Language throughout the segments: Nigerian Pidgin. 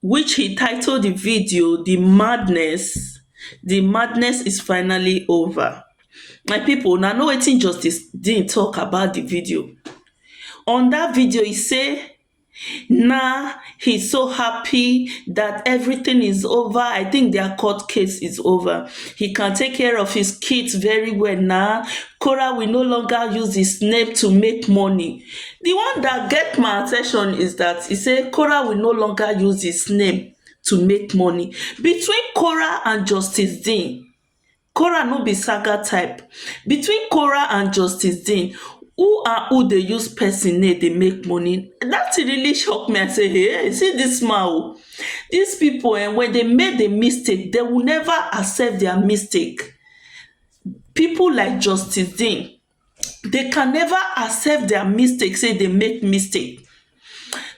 which he title di video di madness di madness is finally over my pipo una know wetin justice dean tok about di video on dat video he say na he so happy dat everytin is over i tink dia court case is over he can take care of his kids very well na kora will no longer use his name to make money di one dat get my at ten tion is dat e say korah will no longer use his name to make money between korah and justice dean korah no be saga type between korah and justice dean who and who dey use pesin name dey make money dat tin really shock me I say hey see dis man oh dis pipo um wen dey make di mistake dey will never accept dia mistake pipo like justice dean they can never accept their mistake say they make mistake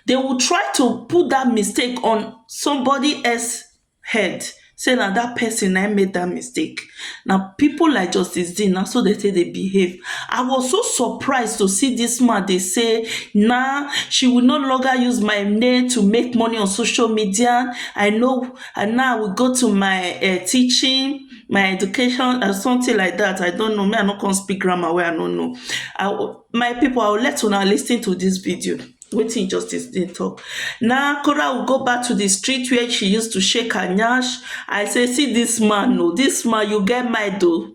they will try to put that mistake on somebody else head say na that person na him make that mistake na people like justice Dean na so they take dey behave I was so surprised to see this man dey say na she will no longer use my name to make money on social media I know and now I will go to my um teaching my education and something like that i don't know me i no come speak grammar wey i no know i will my people i will let una lis ten to this video wetin justice dey talk na kora will go back to the street where she used to shake her nyash i say see this man o this man you get mind o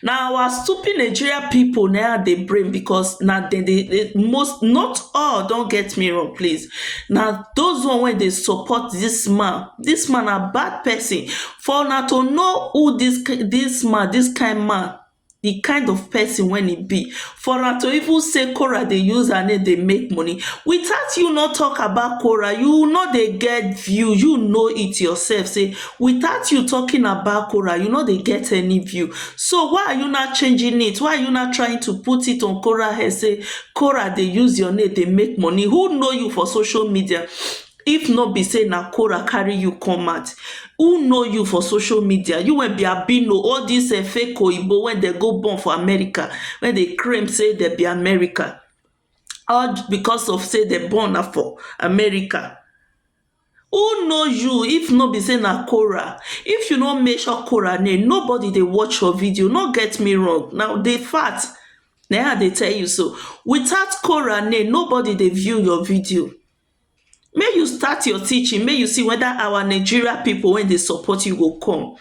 Na our stupid Nigeria people na im I dey blame because na dem dey most not all don't get me wrong please na those one wey dey support this man. This man na bad person for una to know who this this man this kind man the kind of person wey e be for am to even say korah dey use her name dey make money without you no talk about korah you no dey get view you know it yourself say without you talking about korah you no dey get any view so why are you now changing it why are you now trying to put it on korah head say korah dey use your name dey make money who know you for social media If no be say na Korah carry you come out, who know you for social media? You wey be albino, all dis um fake oyibo wey dem go born for America, wey dey claim say dem be America, all because of say dem born na for America. Who know you if no be say na Korah? If you no mention Korah name, nobody dey watch your video, no get me wrong, na the fact na im I dey tell you so. Without Korah name, nobody dey view your video. Make you start your teaching make you see whether our Nigeria people wey dey support you go come.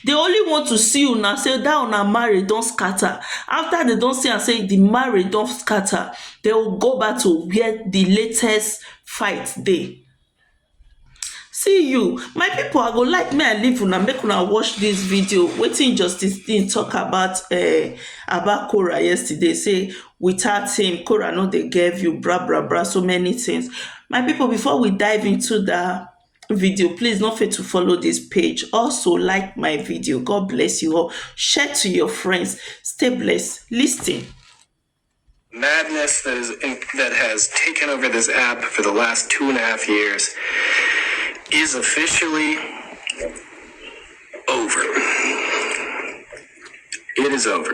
They only want to see una say that una marriage don scatter. After they don see am say the marriage don scatter, they will go back to where the latest fight dey. See you, my people i go like make i leave una make una watch this video wetin justice Dean talk about um Aba Korah yesterday say without him Korah no dey get view bra bra bra so many things my people before we dive into that video please no fail to follow this page also like my video God bless you all share to your friends stay blessed listen madness that is in, that has taken over this app for the last two and a half years is officially over. It is over.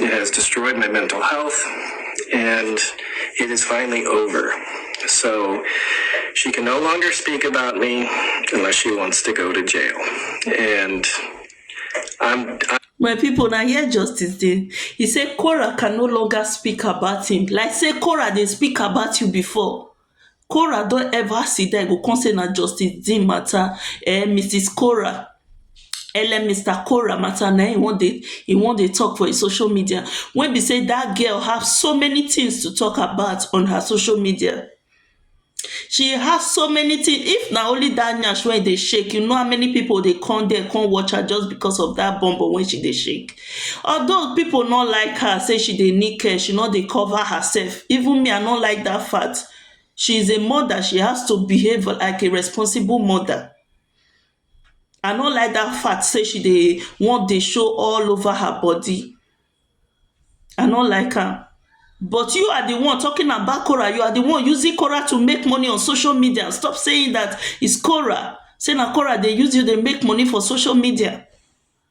It has destroyed my mental health, and it is finally over. So she can no longer speak about me unless she wants to go to jail. And I'm, I'm my people, now here justice dey he say Cora can no longer speak about him like say Cora they speak about you before Korah don ever sit down e go come say na justice Dean matter um Misis Korah um Mister Korah matter na im e wan dey e wan dey talk for im social media wey be say that girl have so many things to talk about on her social media she have so many things if na only that nyash wey e dey shake you know how many people dey come there come watch her just because of that bum bum wey she dey shake Although people no like her say she dey nickel, she no dey cover herself even me I no like that fact she is a mother she has to behave like a responsible mother I no like that fact say she dey wan dey show all over her body I no like am but you are the one talking about Korah you are the one using Korah to make money on social media stop saying that is Korah say na Korah dey use you dey make money for social media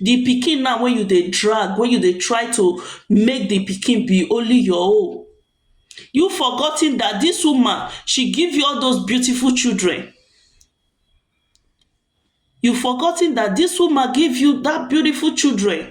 di pikin na wey you dey drag wey you dey try to make di pikin be only your own you forgotten dat dis woman she give you all those beautiful children you forgotten dat dis woman give you dat beautiful children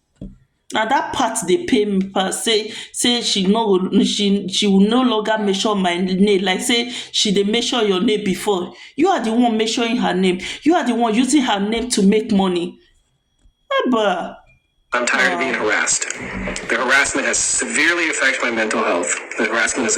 Na dat part dey pain me pass sey sey she no go she she will no longer mention my name like sey she dey mention your name before. You are the one mentioning her name. You are the one using her name to make money. Haba! I'm tired of being harassed. The harassment has severely affect my mental health. The harassment is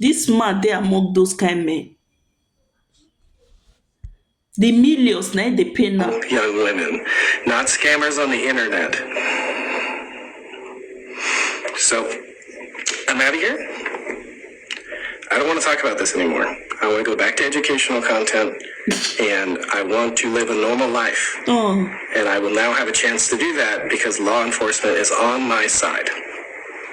Dis man dey among those kind men The millions na im dey pain am young women not scammers on the internet so I'm outta here I don't wanna talk about this anymore I wanna go back to educational content and I want to live a normal life and I will now have a chance to do that because law enforcement is on my side.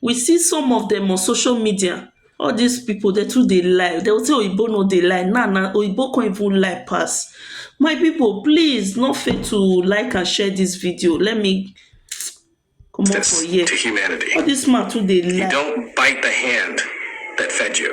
we see some of dem on social media all dis people dem too dey lie dem go say oyibo no dey lie now na oyibo come even lie pass my people please no fail to like and share dis video let me comot for here to humanity. all dis man too dey lie. You don't bite the hand that fed you.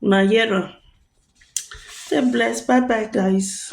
una hear am. Stay blessed bye bye guys.